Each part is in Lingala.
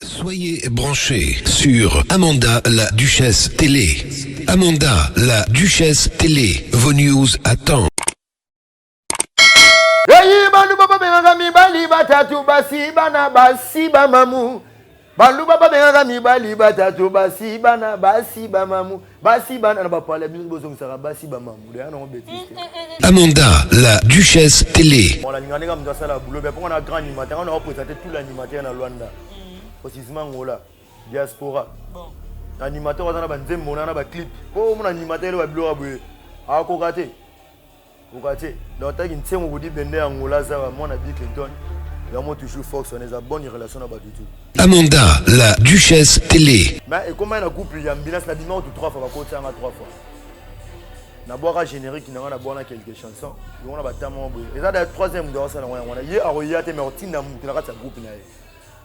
Soyez branchés sur Amanda la Duchesse Télé. Amanda la Duchesse Télé, vos news à temps. Hey, baluba babengaka mibali batatu basi bana basi bamamu baluba babengaka mibali batatu basi bana basi bamamu Basi bana na ba pala bino bozongisaka basi ba mamu ya nango betise. Amanda la duchesse tele. Mwana linga ndenge mtu asala boulot bien ponga na grand animateur on a présenté tout l'animateur na Luanda. Osizima ngola diaspora. Bon. Animateur azana ba nzembo na ba clip. Ko mona animateur ba biloko boye. Akoka te. Okate, donc taki nsengo kudi bende ya Angola zawa mwana Bill Clinton, yango toujours Fox wana eza bonne relation na batu tout. Amanda, la duchesse tele. Mais ekomaki na couple ya Mbinas na bima kutu 3 fois bakoti yanga 3 fois. Na bwaka générique na nga na bwana quelques chansons, yango na batama boye. Eza da troisième ndo asala yango yango wana. Ye akoya te mais otinda mutu na kati ya groupe na ye.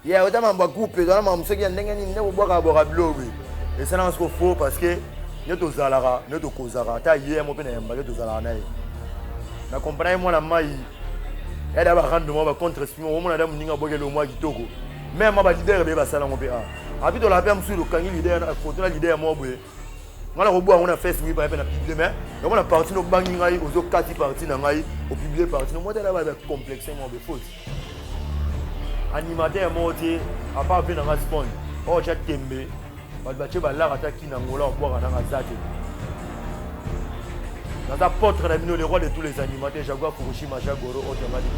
Ya ota mambo ya couple eza na mambo soki ya ndenge nini nde kobwaka bwaka bilo boye esalaka soko faux parce que nde tozalaka nde tokozaka ata ye mo mpe na yamba nde tozalaka na ye na comprendre ye mwana mai ya da barando mwa bacontre esprit moko omona da moninga abwaki elongo mwa kitoko meme mwa balidere beye basala yango mpe a ah. api tolaka mpe ya mosusu tokangi lidere foto na lidere moko boye ngai nakoboya yango na face mipa mpe na publie mai yango na parti nobangi ngai ozokati parti na ngai opiblie parti nomotala bacomplexe mwa befoti animateur moko te apart mpe nanga spond oyo oh, tya tembe bato batye balaka ata kina ngola obwaka nanga za te naza potre na bino le roi de tous les animateurs jagua fukushima jagoro otamadi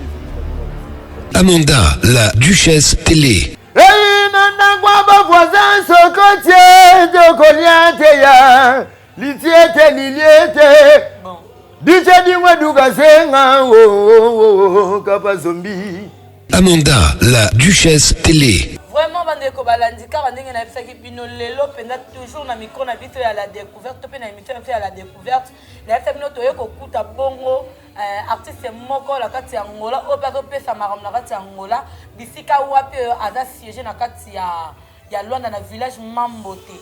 amanda la duchesse tele eyi na ndako ya bavoisin sokotie tokolia te ya Litiete liliete bon. Diche dingwe dukazenga oh, oh, oh, oh, kapa zombi Amanda la duchesse télé vraiment bandeko balandi kaka ndenge nayebisaki bino lelo mpenza toujours na micro na biso ya la découverte to mpe na émission na biso ya la découverte nayebisa bino toye kokuta bongo euh, artiste moko na kati ya ngola oyo mpe azopesa makambo na kati ya ngola bisika wapi oyo aza siège na kati ya ya Luanda na village Mambote.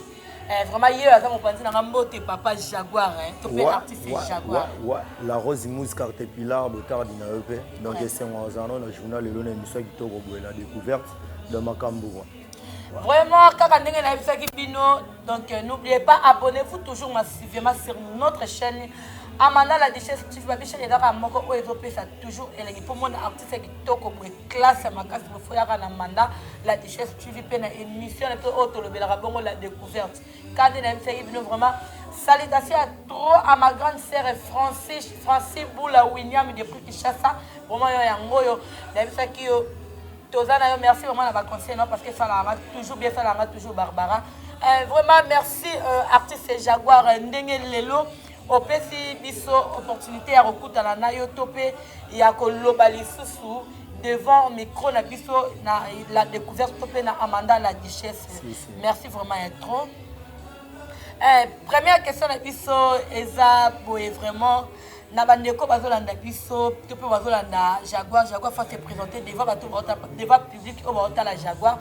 Eh, vraiment ye aza mopanzi na nga mbote papa Jaguar hein. To pe artiste wa, Jaguar. Wa, wa, la Rose Mousse Carte Pilar Botardi na yo pe. Donc ouais. esengo azana na journal lelo na émission kitoko boye la découverte de Makambo. Vraiment, kaka ndenge na yebisaki bino. Donc euh, n'oubliez pas abonnez-vous toujours massivement sur notre chaîne. Amanda la duchesse, tu vas biche les gars moko oyo ezopesa toujours elengi pour mon artiste Classe kitoko boye classe ya makasi bofoyaka na manda la duchesse tv mpe na émission na biso oyo tolobelaka bongo la découverte kande nayebisaki bino vraiment salutation ya trop à ma grande sœur francis francis bula william depuis kinshasa vraiment yo yango oyo nayebisaki yo toza na yo merci vraiment na baconseil no parce que esalaka toujours bien esalaka toujours barbara euh, vraiment merci euh, artiste jaguar ndenge lelo Opesi biso opportunité ya kokutana na yo to mpe ya koloba lisusu devant micro na biso na la découverte to mpe na Amanda la duchesse. Si, si. Merci vraiment ya trop. Eh, première question na biso eza boye vraiment na bandeko bazolanda biso to mpe bazolanda jaguar jaguar fa se présenter devant bato devant public oyo baotala jaguar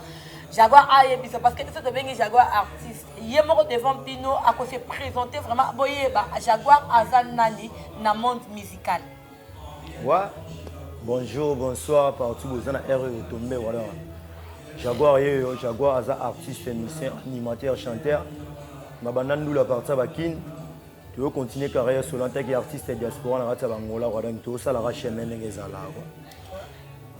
jaguar ayebisa parce que biso tobengi jaguar artiste ye moko devant bino ako se presenter vraiment boyeba jaguar aza nani na monde musical wa bonjour bonsoir partout boza na heure oyo tombe wala jaguar yeyo jaguar aza artiste musicien animateur chanteur na banda ndula parti ya bakine toyo continue carrière solo antaki artiste ya diaspora na kati ya bangola wala tosalaka chemin ndenge ezalaka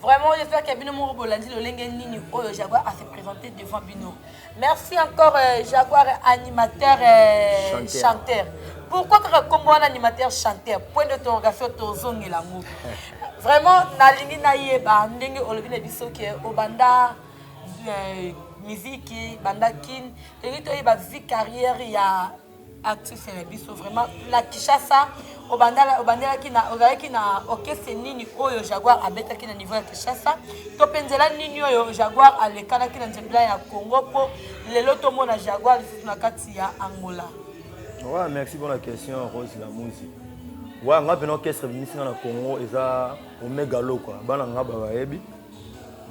Vraiment, j'espère que bino moko bolandi lolenge nini oyo Jaguar a se présenter devant bino. Merci encore euh, Jaguar animateur euh, chanteur. chanteur. Pourquoi kaka kombo wana animateur chanteur point d'interrogation tozongela yango. Vraiment nalingi nayeba ndenge olobi na biso ke obanda euh, miziki banda kin tolingi toyeba vie carrière ya artiste na biso vraiment na Kinshasa obandala obandelaki na ozalaki na orchestre nini oyo Jaguar abetaki na niveau ya Kinshasa to mpe nzela nini oyo Jaguar alekanaki na nzela ya Congo mpo lelo tomona Jaguar lisusu na kati ya Angola ouais, merci pour la question Rose Lamuzi ouais, nga mpena orchestre ebimisi nga na Congo eza Omega Lokwa bana nga babayebi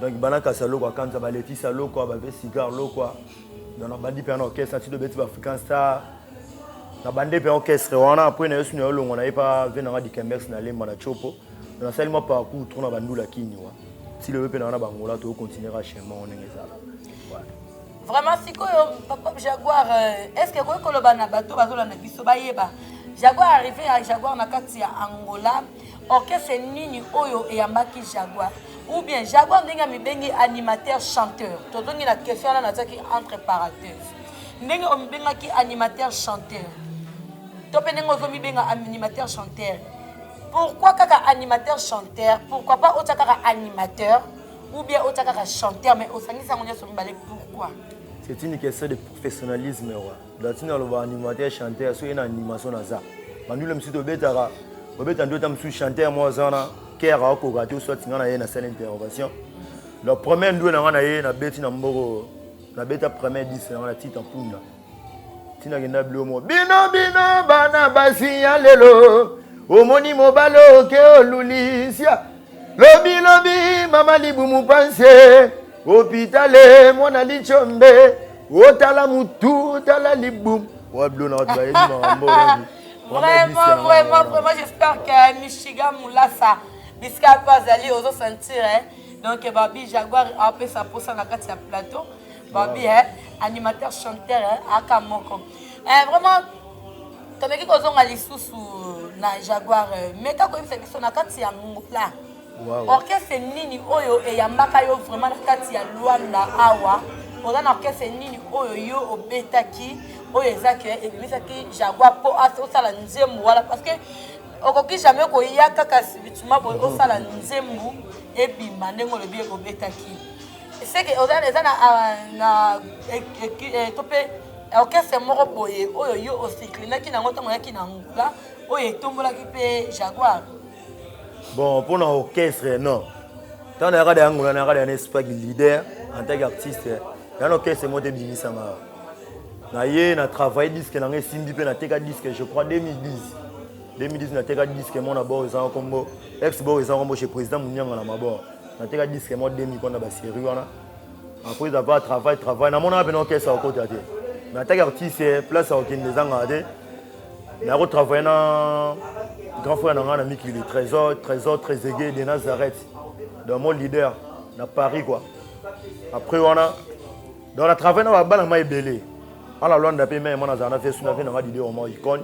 donc bana kasi ya Lokwa kanza baletisa Lokwa bape cigar Lokwa donc nabandi mpe na orchestre nati dobeti ba african star nabandi mpe orchestre wana apres na yesu na yo longo na ye mpa ve nanga dikembex na lemba na chopo nasali mwa parcours tro na bandula kini wa ti lobe mpe na wana bangola tokocontinue ka chemin wana ndenge ezala vraiment sikoyo papa jaguar euh, est ce que ekoki koloba na bato bazolanda biso bayeba jaguar arrivé ya jaguar na kati ya angola Orchestre nini oyo eyambaki Jaguar? Ou bien Jaguar ndenge amibengi animateur chanteur. Tozongi na question wana natiaki entre parenthèse. Ndenge omibengaki animateur chanteur. To pe ndenge ozomibenga animateur chanteur. Pourquoi kaka animateur chanteur? Pourquoi pas otia kaka animateur ou bien otia kaka chanteur mais osangisi yango nyonso mibale pourquoi? C'est une question de professionnalisme roi. Platine aloba animateur chanteur soki na animation naza bandule mosusu tobetaka obeta nde ota mosusu chanteur moko aza wana kere akoka te oswati ngai na ye nasala intervention la première ndue na ngai na ye nabeti na mboko nabeta première dis na ngai na tita mpunda ntina kenda bilo moko bino bino bana basi ya lelo omoni mobali oke olulisia Lobi lobi mama libumu panse hopitale mwana lichombe otala mutu tala libumu wablo na watu bayebi makambo Vraiment, vraiment, vraiment, j'espère que Michigan Moulassa, bisika mpe azali ozo sentir hein? donc eh, babi jaguar apesa mposa na kati ya plateau babi hein? animateur chanteur hein? aka moko eh, vraiment tomeki kozonga lisusu na jaguar meka koyebisa biso na kati ya ngola wow. orchestre nini oyo eyambaka yo vraiment na kati ya luanda awa oza na orchestre nini oyo yo obetaki oyo eza ke ebimisaki jaguar mpo osala nzembo wana parce que okoki jamais koya kaka sibituma boye osala nzembo ebima ndenge olobi ekobetaki seke eza na ah, eh, eh, to mpe Orchestre moko boye oyo yo osinklinaki na yango ntango oyaki na Angola, oyo etombolaki mpe Jaguar. Bon, mpo na orchestre, non. Ntango nayaka na Angola, nayaka na Espagne leader en tant qu'artiste. Nayaka na orchestre moko te ebimisama. Naye na travaille disque na ngai esimbi mpe nateka disque, je crois 2010. 2010 nateka disque moko na bord ezanga nkombo ex bord ezanga nkombo chez président Munyanga na mabord. Nateka disque moko demi mpo na baserie wana. après d'avoir travail travail namonaka mpena okesa okota te mais ataki artiste eh, place ya kokende ezangaka te mais akotravaille na grand frère na ngai na mikili trésor trésor trésege de nazareth donc mon leader na paris quoi après wana donc na travaille na babana ma ebele ana lwanda mpe meme nazala na vesu na mpe na ngai dide oma icone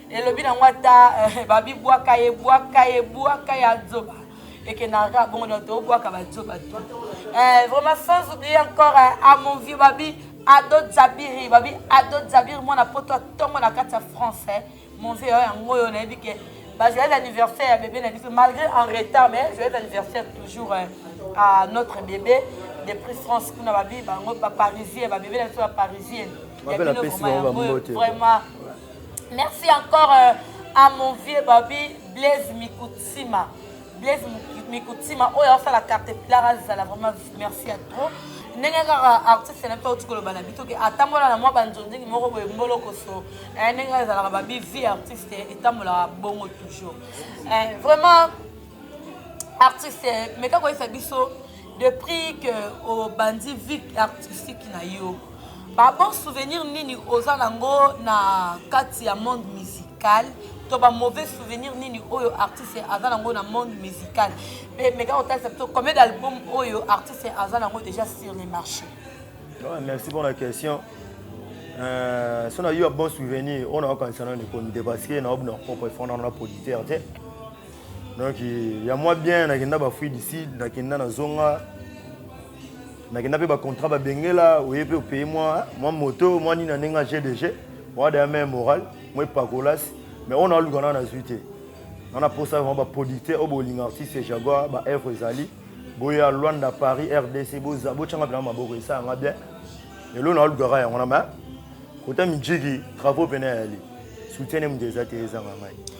elobi nango ata eh, babibwaka ye bwaka ye bwaka ya zoba ekenaka bongo na tobwaka bazoba to eh, vraiment sans oublier encore eh, à mon vieux babi ado zabiri babi ado zabiri mwana poto atongo na kati ya français mon vieux oyo yango oyo nayebi ke bajoyeux anniversaire ya bebe na biso malgré en retard mais joyeux anniversaire toujours eh, à notre bébé de prix france kuna babi bango baparisien babebe na biso baparisien ya bino vraiment vraiment Merci encore euh, à mon vieux Babi Blaise Mikutsima. Blaise Mikutsima, oyo asala carte pilar azala vraiment merci à trop. ndenge kaka artiste na mpe auti koloba na bito ke atambola na mwa banzonzingi moko boye mbolokoso eh, ndenge ezalaka babi vie artiste etambolaka bongo toujours eh, vraiment artiste meka koyesa biso depuis que obandi vie artistique na yo ba bon souvenir nini oza nango na kati ya monde musical to ba mauvais souvenir nini oyo artiste aza nango na monde musical mpe meka kotalisa biso combien d'album oyo artiste aza nango déjà sur le marché ah, merci pour la question euh, so na yo ya bon souvenir oyo nayokanisa nani komi te parce que naobina propre efondana na producteur te donc ya mwa bien nakenda bafuit du sud nakenda na zonga nakenda mpe bacontrat babengela oye mpe opeye mwa mwa moto mwa nini na ndenge ya gdg mwa daya mai moral mwa epakolasi mais oyo naluka nana nazwi te nana mposa vraimen baproducteur oyo bolinga artiste jaguar baevre ezali boya luanda paris rdc botyanga mpena maboko esalanga bien lelo nalukaka yango na ma kota mijiki travaux mpena yali soutiene moto eza te ezanga ngai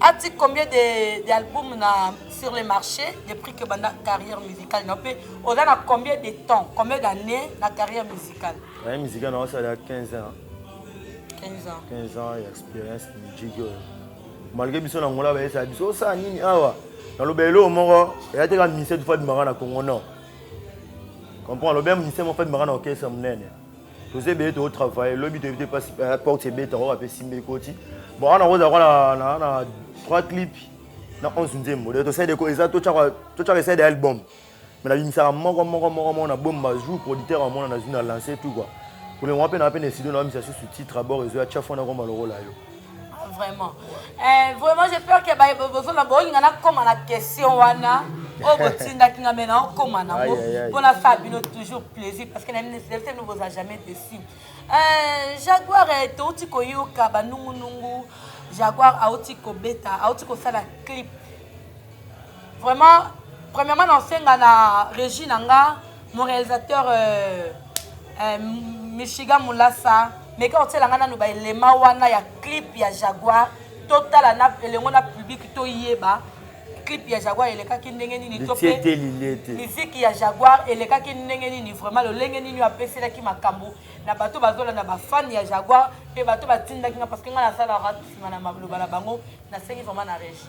Ati combien de d'album na sur le marché depuis que banda carrière musicale na pe oza na combien de temps combien d'années na carrière musicale na musique na ça ya 15 ans 15 ans 15 ans ya expérience musique oyo malgré biso na ngola ba esa biso ça nini awa na lobe elo moko ya te ka mise tu fa dimaka na Congo non comprends lobe mise mo fa dimaka na orchestre munene toza ebele too travaille lobi toyebi te mpasi eh, porte ebeta oyo bape simba ekoti bon wana kozala kwa na 3 clip na 11 nzembo de tosali deko eza totyaka esali de album me nabimisaka moko moko moko moko na bomba jour producteur amona nazwi na lance tout kua kolengo mpe na mpe na esido na bamisa susu titre abord ezoya tya fona komba lokola yo Ah, vraiment eh, vraiment j'ai peur que baye bozona bolinga nakoma na question wana oyo oh, botindaki nga me naokoma nango mpo nasala bino toujours plaisir parce que nayebi boza jamais déçu eh, jaguar eh, touti koyoka banungunungu jaguar auti kobeta auti kosala clip Vraiment, premièrement na senga na regie na nga, mon réalisateur euh, euh, Michigan Mulasa, meka otiela nga nanu ba elema wana ya clip ya Jaguar, totala na elengo na public toyeba clip ya Jaguar elekaki ndenge nini to pe miziki ya Jaguar elekaki ndenge nini vraiment lolenge nini apeselaki makambo na bato bazolanda bafan ya Jaguar mpe bato batindaki nga parce que nga nasalaka nsima na maloba na bango nasengi vraiment na régie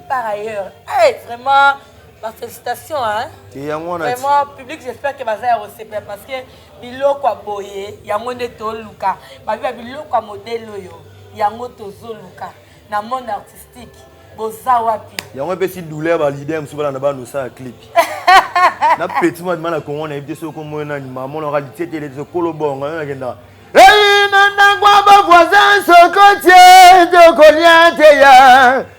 par ailleurs hey, vraiment ba félicitation hein et yango wana vraiment public j'espère que baza ya kosepela parce que biloko ya boye yango nde toluka babi ba biloko ya modele oyo yango tozoluka na monde artistique boza wapi yango epesi douleur ba leader mosusu balanda banosa ya clip na petit mwa dimana kongo na yebi te soki omoyo nani mamonaka litietele te sokolo bongo yo nakendaka eyi na ndako ya bavoisin sokotie tokolia te ya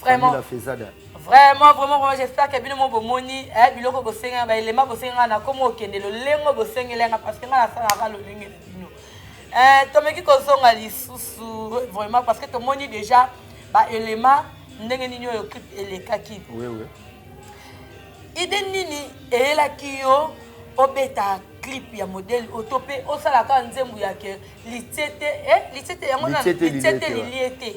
Vraiment. Camila Fezada. Vraiment, vraiment, vraiment, j'espère que bino mo bomoni, eh, biloko bosenga, ba elema bosenga na komo okende lolengo bosengela nga parce que nga nasala ka lolenge na bino. Eh, tomeki kozonga lisusu vraiment parce que tomoni déjà ba elema ndenge nini oyo clip elekaki. Oui, oui. Idée nini eyelaki yo obeta clip ya modèle oyo to mpe osalaka nzembo ya ke litiete eh, litiete yango na litiete lilie te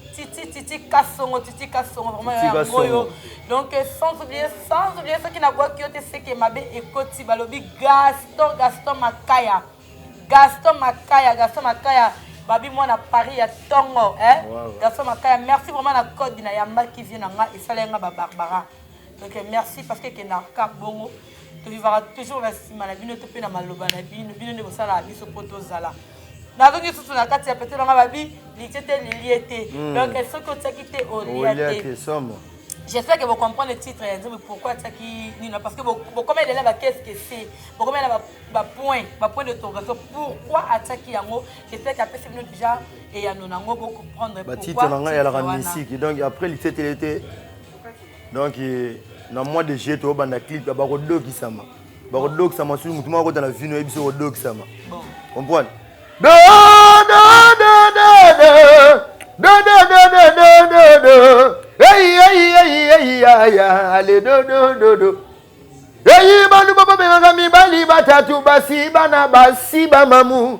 Titi Titi Kasongo Titi Kasongo vraiment Titi yango oyo Kasongo. donc euh, sans oublier sans oublier soki nabwaki yo te seke mabe ekoti balobi Gaston Gaston Makaya Gaston Makaya Gaston Makaya babi mwana Paris ya tongo eh Wow. Gaston Makaya merci vraiment na code na yambaki vie na nga esalaki nga ba Barbara donc euh, merci parce que ekendaka kaka bongo tolivaka toujours na nsima na bino to mpe na maloba na bino bino nde bosalaka biso mpo tozala nazongi lisusu na kati ya pete nanga babi litie te lilie te hmm. donc soki otiaki te olia te j'espère que vous comprenez le titre ya nzembo pourquoi atiaki nino parce que bokoma elela ba qu'est-ce que c'est bokoma ela bapoint bapoint de torgation pourquoi atiaki yango j'espère que apesi bino déjà eyano nango bocomprendre pourquoi titre na ngai eyalaka misiki donc après litetele te Donc na mois de juillet tobanda clip ya bakodokisama bakodokisama soki motu moko akota na vino yebisi okodokisama comprendre eyi baluba babengaka mibali batatu basi bana basi bamamu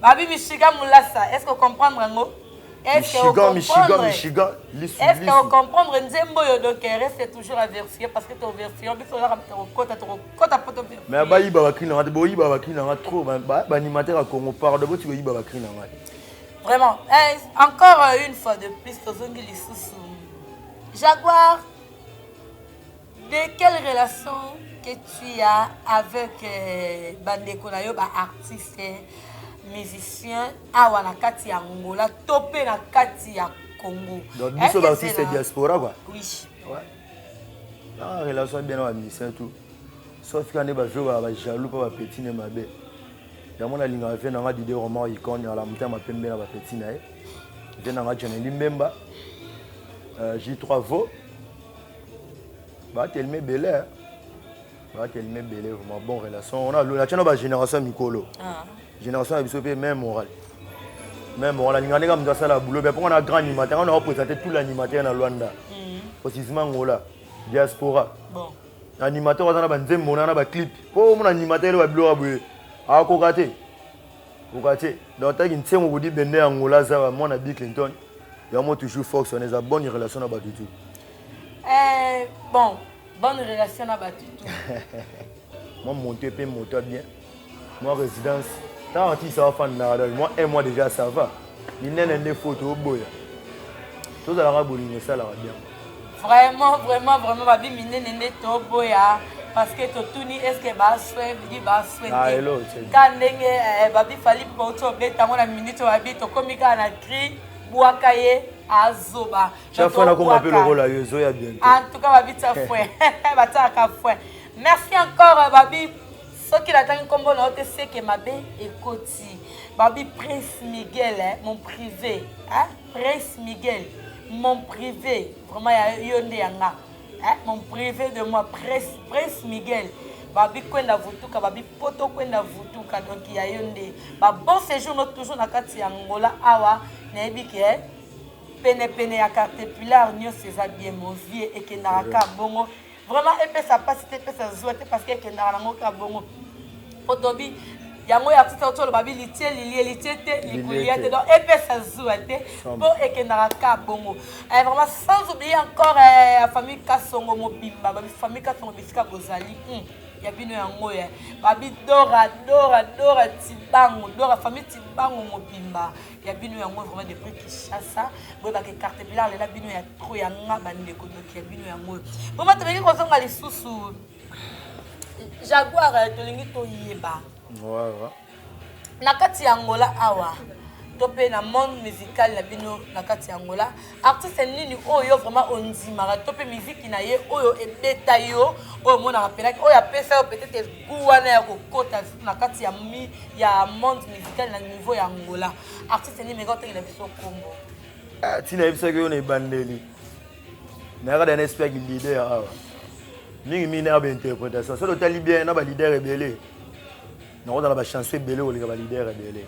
Babi Michigan Mulasa, est-ce que vous comprenez yango? Est-ce que vous comprenez? Michigan, Michigan, lisu, Est-ce que vous comprenez nzembo yo donc reste toujours à verser parce que ton version biso là comme kota to kota poto verser. Mais ba yiba ba kina ngate bo yiba ba kina ngate trop ba ba animateur à Congo pardon bo tu yiba ba kina ngate. Vraiment, eh, encore euh, une fois de plus tozongi lisusu. Jaguar De quelle relation que tu as avec euh, bandeko na yo ba artistes musiciens awa na kati ya Angola to pe na kati ya Congo? Donc biso ba artistes diaspora quoi. Oui. Ouais. Ah, relation bien na musicien tout. Sauf quand ba vieux ba jaloux pas ba petit ne mabe. Yango na linga vieux na nga Didier Roman icône ya la mutema pembe na ba petit na ye. Vieux na nga John Limbemba. Euh, J3 Vaux. batelema ebele eh. batelema ebele vraiment bon relation wana lola tiana ba génération ya mikolo ah. génération ya biso mpe main moral main moral alinga ndenge moto asala boulot bia mpo nga na grand animateur nga na opresente tout l'animateur na luanda osizima mm. ngola diaspora animateur aza na banzembo na na baclip mpo omona animateur ele babiloko ya boye akoka te Bokate, donc taki nsengo kodi bende ya Angola zawa mwana Bill Clinton, yango toujours force wana eza bonne relation na bato tout. Eh, bon, bonne relation na bato tout. Moi monte pe moto bien. Moi résidence, tant artiste ça va faire na moi un mois déjà ça va. Minene nde photo boya. Tozalaka bolingo esalaka bien. Vraiment, vraiment, vraiment, babi minene nde toboya parce que totuni eske baswe bidi baswe ah, te ka ndenge eh, babi fali bauti obeta yango na minute babi tokomi kaka na cri bwaka ye azoba antuka babi tia fwe batiaka fwe merci encore euh, babi soki natangi nkombo na yo te seke mabe ekoti babi prince miguel eh, mon privé eh? Prince Miguel, mon prive, vraiment ya yo nde ya nga. Hein, mon prive de moi, Prince, Prince Miguel. Babi kwenda vutuka, babi poto kwenda vutuka, donc ya yo nde. Ba bon séjour no toujours na kati ya Angola awa, nayebi ke eh, pene pene ya Cartepillar nionso eza bien, mon vieux ekendaka ka bongo. vraiment epesa mpasi te epesa zuwa te parce que ekendaka nango kaka bongo po tobi yango ya tita oto oloba bi litie lilie litie te likulia te donc epesa zuwa te mpo ekendaka ka bongo eh, vraiment sans oublier encore eh, ya famille kasongo mobimba famille kasongo bisika bozali hmm, ya bino yango ya eh. babi dora dora dora tibango dora famille tibango mobimba ya bino yango vraiment depuis Kinshasa boyeba ke carte blanche lela bino ya trop ya nga bandeko doki ya bino yango oyo boma tobeki kozonga lisusu jaguar eh, tolingi toyeba na kati ya angola awa to mpe na monde musical na bino na kati ya angola Artiste nini oyo yo vraiment ondimaka to pe miziki na ye oyo ebeta yo oyo omonaka pelaki oyo apesa yo peut-être goût wana ya kokota na kati ya mi ya monde musical na niveau ya Angola artiste nini meka otekela biso kombo ah, ti nayebisaki yo na ebandeli nayaka da na esprit ya leader awa mingi mingi nayaka bainterprétation soki otali bien na baleader ebele nakozala bachanson ebele koleka baleader ebele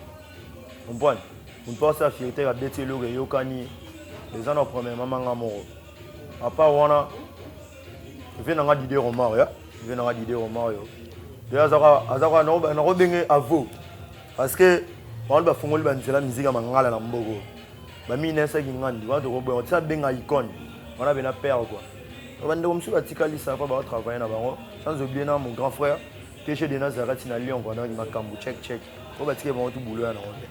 comprendre moto mpe asala fierté ya beti eloko eyokani eza na problème mama nga moko apart wana ve nanga dide romar ya ve nanga dide romar yo de azaka nakobenge avo parce que bango bafungoli banzela miziki ya mangala na mboko baminesaki ngandi wana tokoboya tisa benga icone wana bena père quoi bandeko mosusu batikali sapa baotravaille na bango sans oublie na mon grand frère tg de nazarati na lyon kwanaki makambo check check oyo batikeli bango ti bulo ya nango te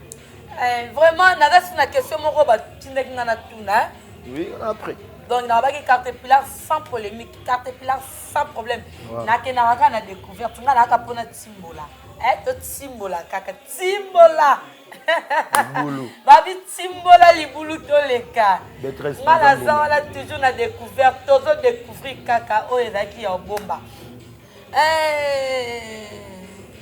eh, vraiment nazasi na question moko batindaki nga na tuna eh. oui après donc nabaki cartepillar sans polémique cartepillar sans problème nakendaka kaka na découverte nga nayaka mpona timbola eh, totimbola kaka timbola babi timbola libulu toleka nga naza wana toujours na découverte tozo découvrir kaka oyo ezalaki ya obomba Eh,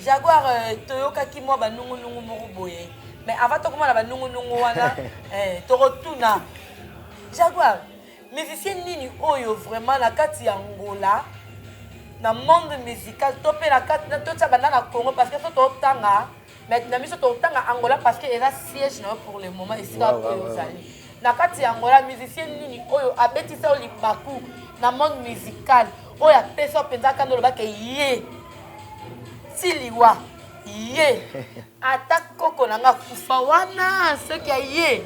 Jaguar euh, toyokaki mwa banungunungu moko boye mais avant tokomona banungunungu wana eh, tokotuna Jaguar musicien nini oyo vraiment na kati ya ngola na monde musical to mpe na kati totya banda na congo parce que so totanga mais na biso totanga angola parce que eza siège na yo pour le moment esika Wow, wow, oyo wow. ozali na kati ya angola musicien nini oyo abetisa yo libaku na monde musical oyo apesa yo mpenza kanda oloba ke ye ti liwa ye ata koko na nga akufa wana soki ya ye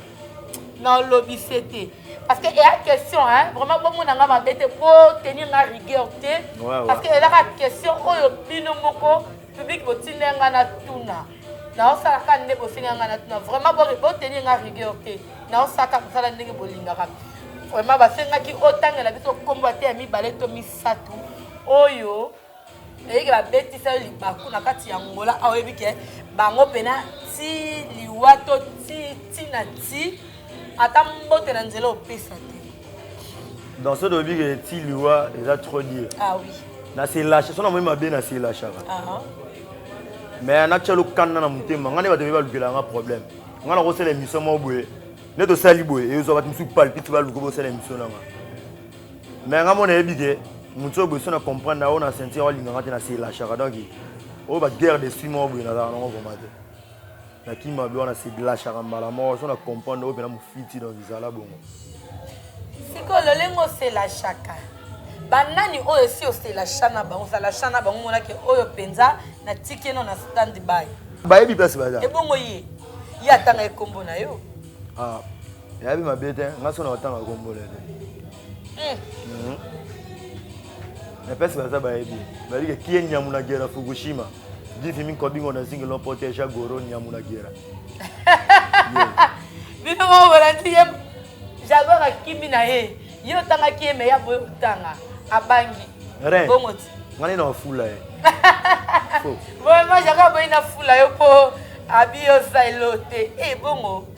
nalobi se te parce que eya question hein, vraiment bomona nga mabe te botenir nga rigueur te Wawa. parce que ezaka question oyo bino moko Public botinda nga na tuna. Naosala ka nde bosenga nga na tuna. Vraiment bo boteni nga rigueur te. Naosala ka kosala ndenge bolingaka. Vraiment basengaki otangela biso kombo ate ya mibale to misato oyo eyeke babetisa yo libaku na kati ya ngola aoyebi ke bango mpena ti liwa to ti ti na ti ata mbote na nzela opesa te dans ce dobi que ti liwa eza trop dur ah oui na se lâche sona moi mabe na se lâche ka ah mais na tchelo kanna na mutema ngane ba debi ba lukela nga problème ngana ko sele mission mo boye ne to sali boye e zo ba musu palpite ba luko bo sele mission na nga mais nga mona yebi ke mutu boye sona comprendre na ona sentir wa linga ngate na se lâche ka donc o ba guerre de six mois boye na za na ngo vraiment te na ki mabe wana se glashaka mbala moko so na comprendre oyo mpena mofiti donc zala bongo sikoyo lolenge oselashaka banani oyo esi oselasha na bango osalasha na bango monake oyo mpenza na tikeno na stand by bayebi place baza ebongo ye ye atanga ekombo na yo ah, yayebi mabe te nga so na otanga kombo na ye te Eh. Mhm. na place baza bayebi balike kie nyamu na gera fukushima divimi nkobingo na zingi lompote ja goro nyamu na gera bino moko bolandi ye jagor akimi na ye ye otangaki ye meya boye kotanga abangi bomoti ngani na ofula ye vraiment jagor boyi na fula yo mpo abi oza elo te ebongo eh,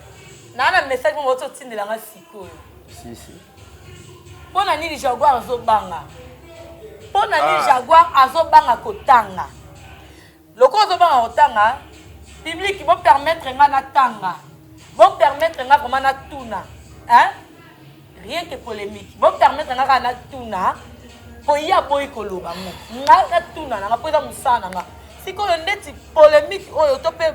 naa na message moko ti otindela nga sikoyo si si mpo na nini jaguar azobanga mpo na nini ah. jaguar azobanga kotanga lokola ozobanga kotanga publike bopermettre nga natanga bopermettre nga vraimen natuna hein? rien que polemique bo permettre nga kaka natuna po ye aboyi koloba ngo ngai natuna na nga po eza mosala na nga sikoyo ndeti polemique oyo to mpe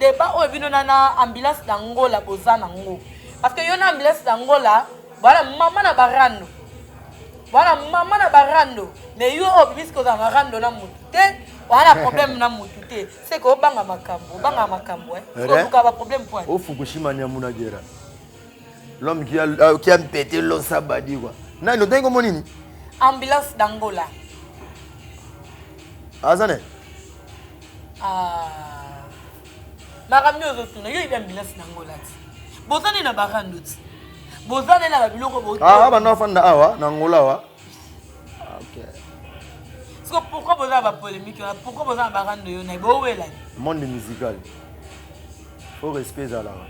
debat oyo bino na na ambulance na ngola boza na ngo parce que yo na ambulance na ngola bwana mama na barando bwana mama na barando mais yo oyo obimisi kozala na rando na motu te wana problème na motu te seke obanga makambo obanga makambo eh? oluka baproblème po ofukushima nyamuna gera l'homme qui a, euh, qui a mpete losa badi kwa nani otangi kombo nini ambulance d'angola aza ne ah. makambo nio ozotuna yo yebi ambulance d'angola ti boza nde na barando ti boza nde na babiloko bobanda ah, ah, afanda awa na angola awa siko pourquoi boza na bapolémique wana pourquoi boza na barando yo naye bowelani monde musical fo respect ezalaka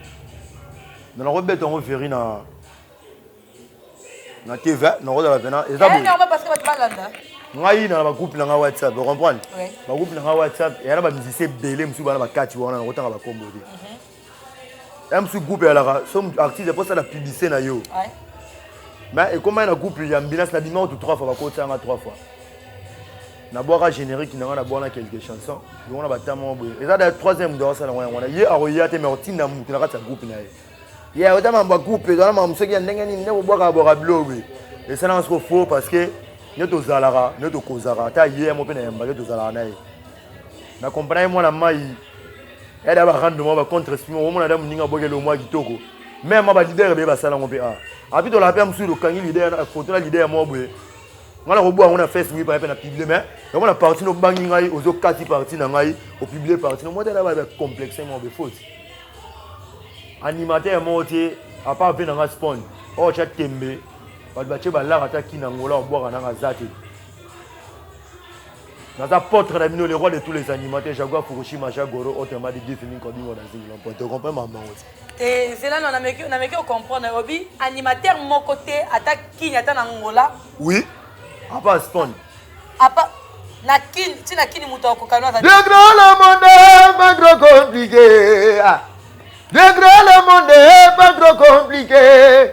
me nakobeta yango veri na na tv nakozala pena eza eh, ngai na bagroupe na ngai whatsapp ocomprendre bagroupe na ngai whatsapp eya na bamusicien ebele mosusu bana bakati wana nakotanga bakombo te mhm. ya mosusu groupe eyalaka so artiste mpo osala publicité na yo mais ekomai na groupe ya mbinas na bima kutu trois fois bakotisa yanga trois fois nabwaka générique na nga na bwana quelques chansons yango na batama moko boye eza da troisième moto akosala yango yango wana ye akoya te mais otinda motu na kati ya groupe na ye ye ota mambo ya groupe ezala mambo soki ya ndenge nini nde kobwaka bwaka bilo boye esalanga soko faux parce que nde tozalaka nde tokozaka ata ye yamo mpe na yamba nde tozalaka na ye na comprendre ye mwana mai ya da ba rando mwa ba contre esprit mwa omona da moninga boke lo mwa kitoko meme mwa ba leader be basala yango mpe a api tolaka mpe ya mosusu lokangi leader na foto na leader mwa boye ngai nakoboya yango na facebook epai mpe na publie mais yango na parti no obangi ngai ozokati parti na ngai opublie parti no mwa te alaba complexe mwa boye faute animateur moko te apart mpe na ngai spawn oyo tya tembe bato batye balaka ata kina ngola obwaka nanga aza te naza potre na bino le roi de tous les animaux te jaguar fukushima jagoro ote madi difi mingi kobingo na zingi lompo te comprend mamango te eh, zela no nameki ocomprendre obi animateur moko te ata kini ata na ngola oui apa asponde apa na kini ti na kini moto akokani aza degre le monde pas trop compliqué ah. degre le monde pas trop compliqué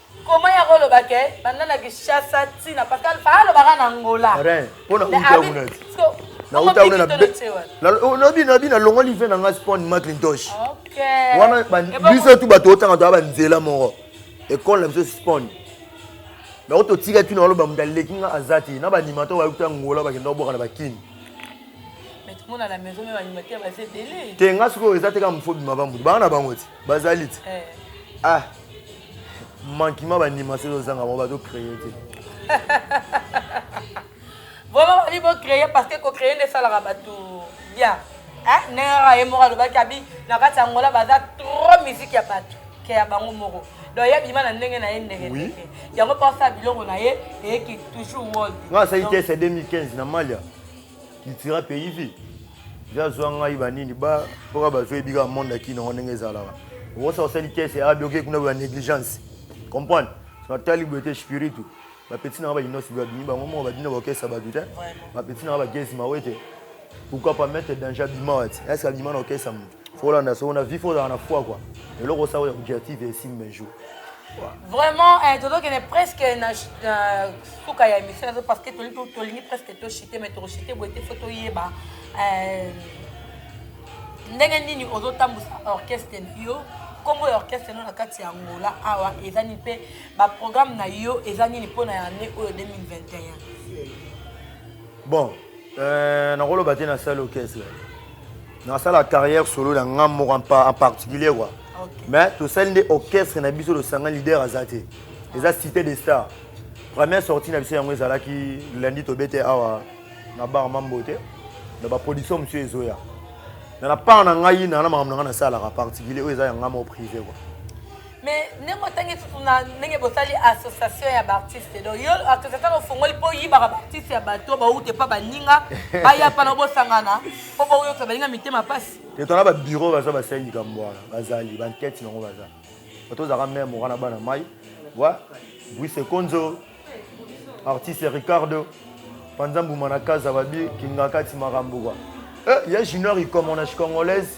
Comment ya koloba ke banda na Kinshasa ti na Pascal fa alobaka na Angola. Rien. Pona uta kuna. Na uta kuna na na oh, na bi na bi na longo live na nga spawn Macintosh. Okay. Wana biso tu bato otanga to ba nzela moko. Ekole na biso spawn. Na oto tika tu na loba mudaleki nga azati na ba nimato ba uta Angola ba kendo boka na ba kin. mona na maison me baanimateur baza ebele te nga sikoyo eza te kaka mofo bima bambutu banga na bango ti bazali ti eh. ah mankima bandima soki ozanga bango bazo créer te vraiment babi bo créer parce que ko créer nde esalaka bato bien nera ye moko alobaki abi na kati ya ngola baza trop musique ya bato ke ya bango moko donc ye abima na ndenge na ye ndenge ndenge yango mpo asala biloko na ye eyeki toujours world nga asali te ese 2015 na malia litira pays vie ja zwa ngai banini ba mpoka bazwa yebi kaka monde akini yango ndenge ezalaka okosa osali kese abi oke kuna boya négligence comprendre natali boye te spiritu bapeti nanga bainosi babimi bango moko babina bakesa bato te bapeti nanga bagezi mawe te pourquoi pas mettre danger abima wati eske abima na okesa moto Folanda soko na vie fozala na foi quoi. Eloko osala oyo objectif et sim mes jours. Vraiment, eh, tozokende presque na euh, suka ya émission nazo parce que toli to- tolingi presque toshite mais tokoshite boye te fo toyeba eh, ndenge nini ozotambwisa orchestre na yo nkombo ya orchestre no na kati ya angola awa eza nini mpe baprogramme na yo eza nini mpo na année oyo 2021 Bon, Euh, nakoloba te nasali orchestre nasala carrière solo na nga moko en particulier kua mais tosali nde orchestre na biso losanga leader aza te eza cité de star première sortie na biso yango ezalaki lundi tobete awa na bar mambo te na baproduction mosusu ezoya na na part na ngai na na makambo na ngai nasalaka particulier oyo eza ya ngai moko privé kua mais ndenge otangi tutu na ndenge bosali association ya baartiste donc yo association ofongoli mpo oyibaka baartiste ya bato bauta epa baninga baya mpa na bosangana mpo boyoka baninga mitema mpasi etala babiro baza basengi kambo wana bazali bankete nango baza bato ozalaka meme moka na bana mai wa buise konzo artiste ricardo panza mbuma na kaza babi kingakati makambo kwa eh, ya junior ikomonash congolaise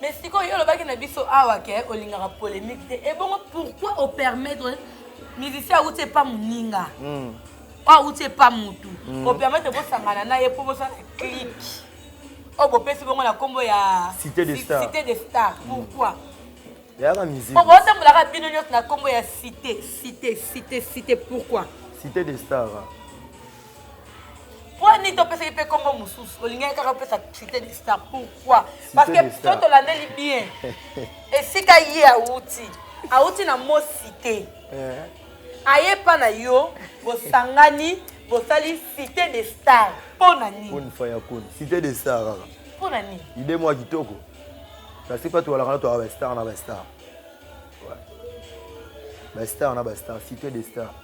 mais sikoyo yo olobaki na biso awa ke olingaka polémique te ebongo pourquoi opermettre musicien awuti epa moninga hmm. oyo awuti epa motu hmm. opermettre bosangana na ye mpo bosala clique oyo oh, bopesi bongo na nkombo ya cité de star cité de star hmm. pourquoi yaka musique oyo botambolaka bino nyonso na nkombo ya cité cité cité cité pourquoi cité de star pwani to pesaki pe kombo mosusu olingaki kaka opesa cité du star pourquoi parce que so tolandeli bien esika ye awuti awuti na mosi te eh. aye pa na yo bosangani bosali cité de star mpo na nini cité de star kaka mpo na nini ide mwa kitoko kasi mpa towalaka na toyaka bastar na bastar bastar na bastar cité de star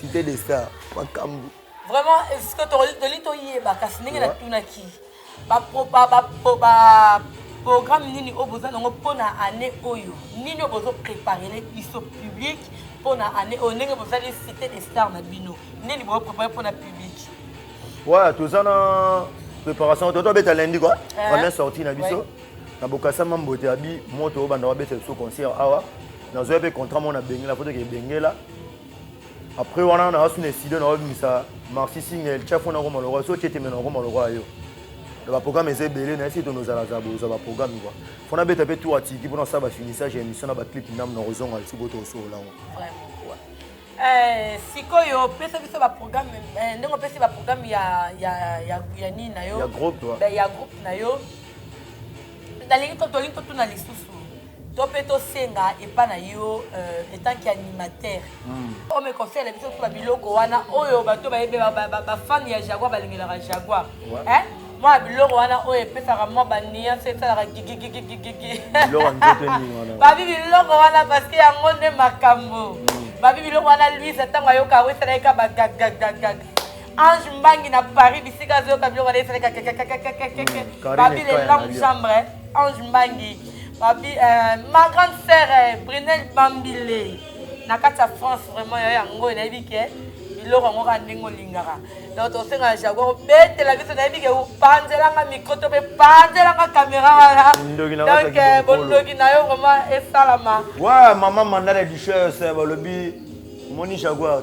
cité de star makambo vraiment esika toli toyeba kasi ndenge natunaki baprogramme nini oyo boza nango mpo na année oyo nini oyo bozo préparele biso public mpo na année oyo ndenge bozali cité de star na bino nini bozo préparele mpo na public ouais toza na préparation toto abeta lundi kua eh. première sortie na biso na bokasa mambo te abi moto oyo banda wabeta biso concert awa nazoya mpe contrat mona bengela foto ke bengela après wana na asu na studio na obimisa marci singel tia fona koma lokola so tiete mena koma lokola yo na baprogramme eza ebele na esi tonozalazala boza baprogramme kua fo nabeta mpe tour atiki mpona kosala bafinissage ya émission na baclip ndambo na kozonga lisi boto osolola yango eh, sikoyo pesa biso baprogramme eh, ndenge opesi baprogramme ya, ya, ya, ya nini na yo ya groupe na yo nalingi tolingi totuna lisusu to mpe tosenga epa na yo euh, etant que animateur hmm. ome conseil na biso tuba biloko wana oyo bato bayebi bafan ya jaguar balingelaka jaguar mwa biloko wana oyo epesaka mwa baniance esalaka gigigigigigi babi biloko wana parceke yango nde makambo hmm. babi biloko wana luise ntango ayoka yango esalaki ka bagagagagaga ange mbangi na paris bisika azoyoka biloko wana esalaki kakakakakakake babi lelam chambre Ange Mbangi, babi, euh, ma grande sœur euh, Brunel Bambile na kati ya France vraiment yo yango nayebi ke biloko yango kaka ndenge olingaka donc tosenga na jaguar obetela biso nayebi ke opanzelanga micro to mpe panzelanga kamera wana donc euh, bondoki na yo vraiment esalama wa mama mandala duchesse balobi moni jaguar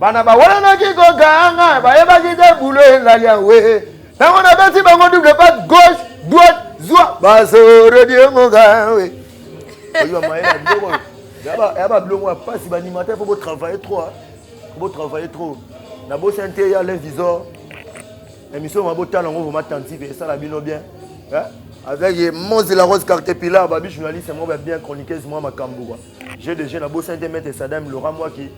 bana bawelanaki kokanga bayebaki te bulo elali yawe ntango nabeti bango double pat gauche droite zwa bazorodiongokawe oyiba maye na biloko ya babiloko ya mpasi banimata fo botravaille trop botravaille trop nabosi nte ya l'invisor émission ma botala yango vraimen attentive esala bino bien avec mozi la rose carte pilar babi journaliste moko ya bien chroniqueuse mwa makambo jeu de jeu nabosi nte mete sadam lora mwaki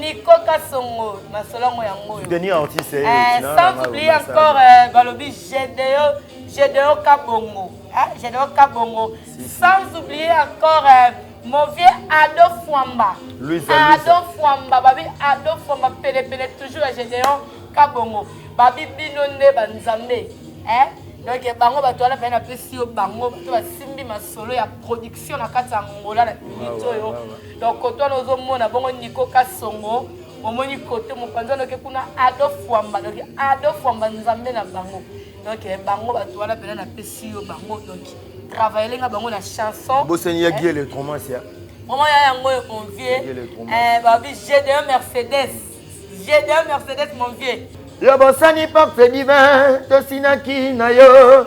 Nico Kassongo, ma solongo ya ngoyo. Denis Ortiz, eh, eh sans oublier encore euh, Balobi Gédéo, Gédéo Kabongo, hein, Gédéo Kabongo, si, si. sans oublier encore euh, mon vieux Ado Fwamba. Louis Ado Fwamba, babi Ado Fwamba, pele pele toujours à Gédéon Kabongo. Babi bino nde ba Nzambe, hein. Donc eh, bango bato wana pena pesi yo bango bato basimbi masolo ya production na kati ya Angola na minute oyo. donc koto wana ozomona bongo niko kasongo omoni kote mopanzi wana oke kuna ado fwamba donc ado fwamba nzambe na bango donc eh, bango bato wana mpena napesi yo bango donc travaille nga bango na chanson bosani ya eh? giele tromasia vraiment ya yango oyo mon vieux eh, babi gde mercedes gde mercedes mon vieux ya bosani parfait divin tosinaki na yo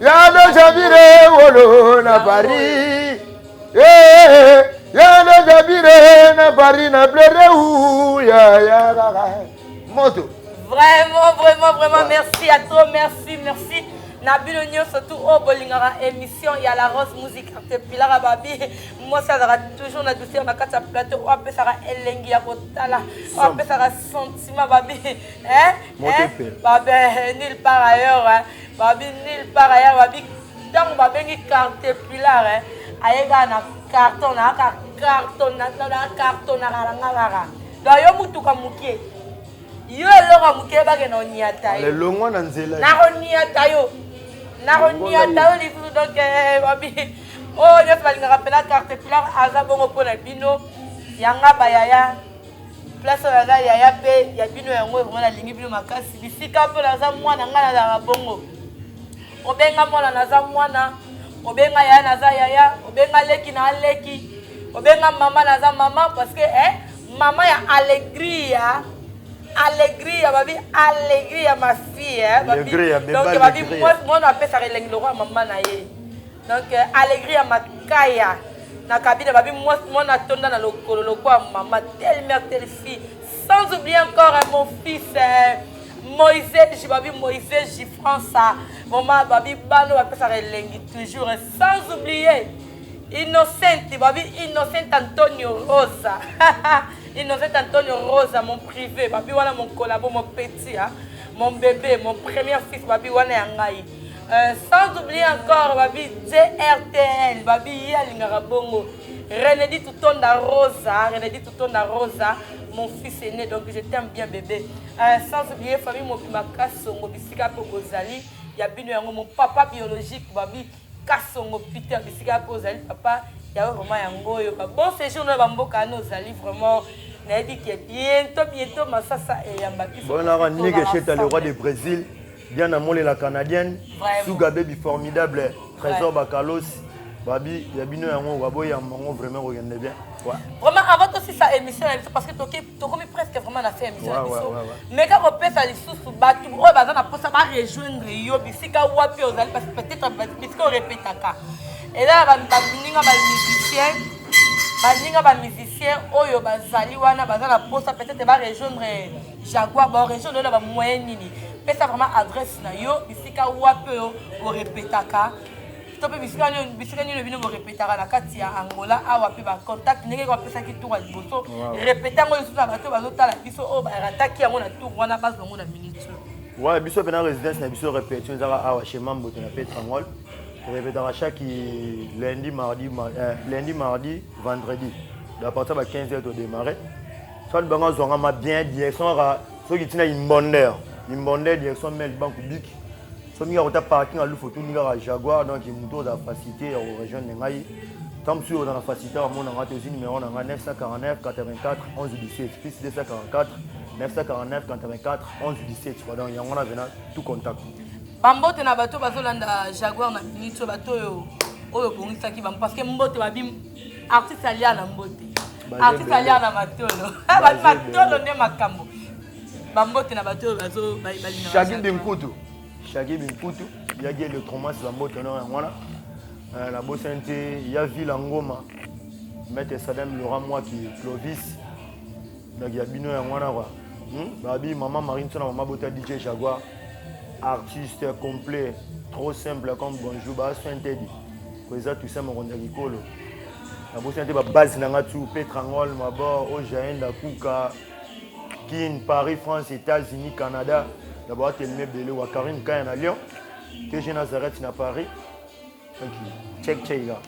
ya do jabire wolo na paris eh, ya do jabire na paris na pleure u ya ya moto vraiment vraiment vraiment merci à toi merci merci na bino nyonso tu oyo bolingaka émission ya la rose musique arte pilaka babi mwasi azalaka toujours na douceur na kati ya plateau oyo apesaka elengi ya kotala oyo apesaka sentiment babi babe nulle part ailleurs babi nil part aya babi ntango babengi cartepillar eh, aye kaka na carton naaka carton cartonaka na nga kaka donc yo motuka moke yo eloko moke bake na oniata yo lelongwa na nzela nakoniata yo nakoniata yo lisusu donc eh, babi oyo oh, nyonso balingaka mpela cartepillar aza bongo mpo na bino yanga bayaya place oyo naza yaya mpe ya bino yango ekonga nalingi bino makasi bisika mpo naza mwana ngai nazalaka bongo obenga mwana naza mwana obenga yaya naza yaya obenga leki na aleki obenga mama naza mama parce que eh, mama ya alegria alegria babi alegria ma fille eh, babi, donc babi mwana apesaka elengi lokola mama na ye donc euh, alegri ya makaya na kabine babi mwana atonda na lokolo lokola mama telle mère telle fille sans oublier encore hein, mon fils hein, moise jibabi moise jifransa mama babi bano bapesaka elengi toujours hein, sans oublier innocente babi innocente antonio rosa innocente antonio rosa mon privé babi wana mon collabo mon petit hein, mon bébé mon premier fils babi wana ya ngai Euh, sans oublier encore babi drtl babi ye alingaka bongo renedi tutonda rosa renedi tutonda rosa mon fils aîné donc je t'aime bien bébé euh, sans oublier famille mobimba kasongo bisika mpe bozali ya bino yango mon papa biologique babi kasongo peter bisika mpe ozali papa yawe vraiment yango oyo bon séjour na bamboka wana ozali vraiment nayebi ke bientôt bientôt masasa eyamba biso bonaka nike cheta le roi de brésil Diana Mole la canadienne, Suga Baby formidable, Trésor Bakalos, babi ya bino yango baboya yango vraiment kokende bien vraiment avant tosisa émission na biso parce que tokomi presque vraiment na fin émission na biso meka kopesa lisusu bato oyo baza na mposa barejoindre yo bisika wapi ozali parce que peut-être bisika orepetaka eza na baninga bamusicien baninga bamusicien oyo bazali wana baza na mposa peut-être barejoindre Jaguar ba origine oyo na ba moyen nini? Pesa vraiment adresse na yo bisika wapi oyo o repetaka to mpe bisika nini bisika nini bino bo repetaka na kati ya Angola awa mpe ba contact ndenge ko pesaki tour ya liboso repeta yango lisusu na bato bazo tala biso oyo ba rataki yango na tour wana base bango na minute Ouais, biso mpe na résidence na biso repetition ezaka awa chez Mamboto na Petrangol repetaka chaque lundi mardi, mar, euh, lundi mardi vendredi donc à partir ya ba 15 heures to démarrer Fat banga zonga ma bien direction ka soki tina imbonder imbonder direction mel banku biki soki nga kota parking alu photo ninga ka jaguar donc muto da facilité ya region de ngai tant monsieur dans la facilité à mon angat aussi numéro nanga 949 84 11 17 plus 244 949 84 11 17 quoi donc yango na vena tout contact bambote na bato bazolanda jaguar na minitio bato oyo oyo obongisaki bango parce que mbote babi artiste alia na mbote artiste alia na matolo bato matolo nde makambo bambote na bato oyo bazobalina shaki binkutu shaki binkutu yaki electromas bambote na yango wana euh, nabosani te ya vila ngoma maître sadam laura mwaki clovis donc ya bino yango wana kua hmm? babi mama marie nso na mama bota dj jaguar artiste complet trop simple comme bonjour baso interdit Eza Toussaint Mokonzi ya Bikolo. Nabosana te babase na nga tu Petrangol, Mabor, Ojaen, Dakuka, Kin, Paris, France, États-Unis, Canada. Na bawatelemi ebele wa Karim Kaya na Lyon, TG Nazareth na Paris. Thank you. Check check là.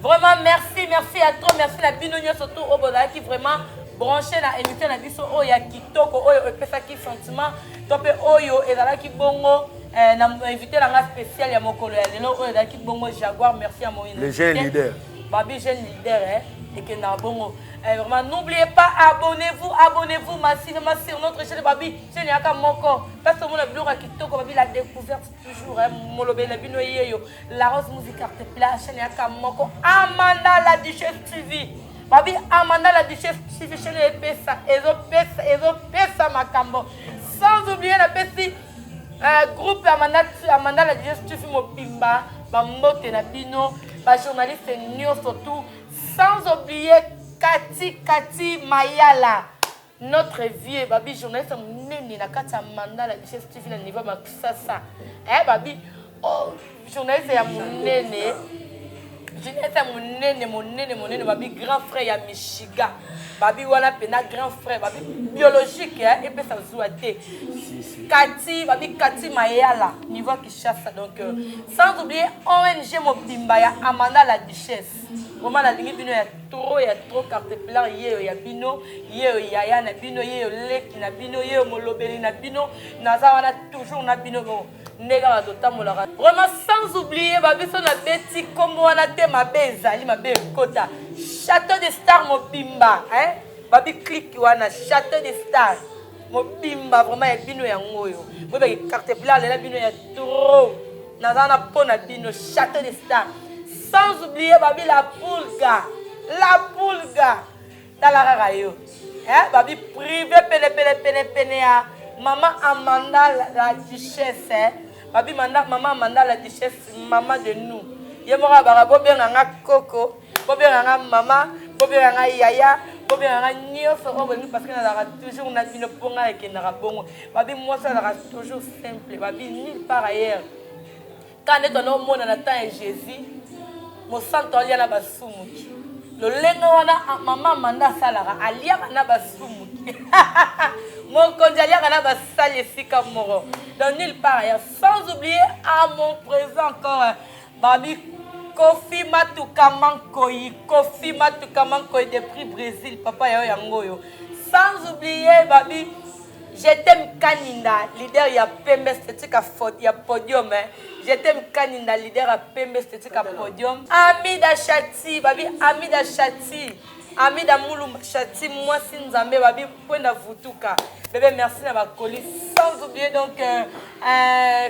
Vraiment merci, merci à toi, merci na bino nyonso tout oyo bozalaki vraiment branché na émission na biso oyo ya kitoko oyo epesaki sentiment to mpe oyo ezalaki bongo eh, na invité na nga spécial ya mokolo ya lelo oyo ezalaki bongo jaguar merci ya moïna le jeune leader babi jeune leader eh, ekendaka bongo eh, vraiment n'oubliez pas abonnez-vous abonnez-vous masinema sur notre chaîne babi chaîne yaka moko place tomona biloko ya kitoko babi la découverte toujours eh, molobeli na bino yeyo la rose music arte pla chaîne yaka moko amanda la duchesse tv Babi Amanda la duchesse Chivishele epesa ezopesa ezopesa makambo sans oublier na pesi euh, groupe Amanda Amanda la duchesse Chifi mobimba bambote na bino ba journaliste nyoso tout sans oublier Kati Kati Mayala Notre vieux Babi journaliste munene na kati ya mandat la bichesse TV na niveau ma kisasa. Eh Babi oh journaliste ya munene. Journaliste ya munene munene munene Babi grand frère ya Michigan. Babi wana pena grand frère Babi biologique eh epesa zuwa te. Kati Babi Kati Mayala niveau Kinshasa donc euh, sans oublier ONG mobimba ya Amanda la duchesse. Vraiment nalingi bino ya trop ya trop carte blanc yeyo ya bino yeyo yaya na bino yeyo leki na bino yeyo molobeli na bino naza wana toujours na bino bo ndenge kaka totambolaka vraiment sans oublier babiso na beti nkombo wana te mabe ezali mabe ekota château de star mobimba hein babi clique wana château de star mobimba vraiment ya bino yango oyo boyebaki carte bla alela bino ya trop naza na mpo na bino château de star sans oublier babi la pulga la pulga tala kaka yo eh, babi privé penepenepenepene ya mama amanda la duchesse eh. babi manda mama amanda la duchesse mama de nous ye moko abaka bobenga nga koko bobenga nga mama bobenga nga yaya bobenga nga nyonso oyo bolingi parce que nazalaka toujours na bino mpo ngai ekendaka bongo babi mwasi azalaka toujours simple babi nil par ailleurs kaka nde twana omona na temps ya jésus mosantu alia na basumuki lolenge wana ah, mama manda asalaka aliaka na basumuki mokonzi aliaka na basali esika moko donc nil par ailleurs sans oublier à mon présent encore Babi Kofi Matuka Mankoyi, Kofi Matuka Mankoyi de prix Brésil, papa yao yangoyo. Sans oublier Babi J'étais Kaninda, leader ya Pembe Esthétique ya podium. Hein. J'étais Kaninda, leader ya Pembe Esthétique ya podium. Amida Chati, Babi Amida Chati. Amida Mulumba Chati, moi si Nzambe, Babi Kwenda Vutuka. Bébé, merci na bakoli. Sans oublier donc euh, euh,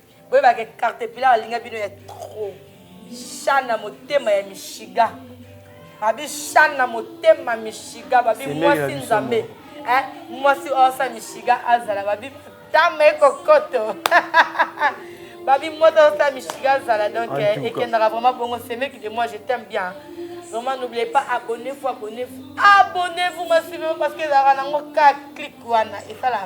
boyeba ke cartepillar alinga bino ya trop shan na motema ya mishiga babi shan na motema mishiga babi mwasi nzambe eh, mwasi osa mishiga azala babi matama ekokoto babi moto osa mishiga azala donc eh, ekendaka vraiment bongo semeki de moi je t'aime bien Vraiment, n'oubliez pas, abonnez-vous, abonnez-vous. Abonnez-vous, ma parce que la ranango, clique, wana, et ça, la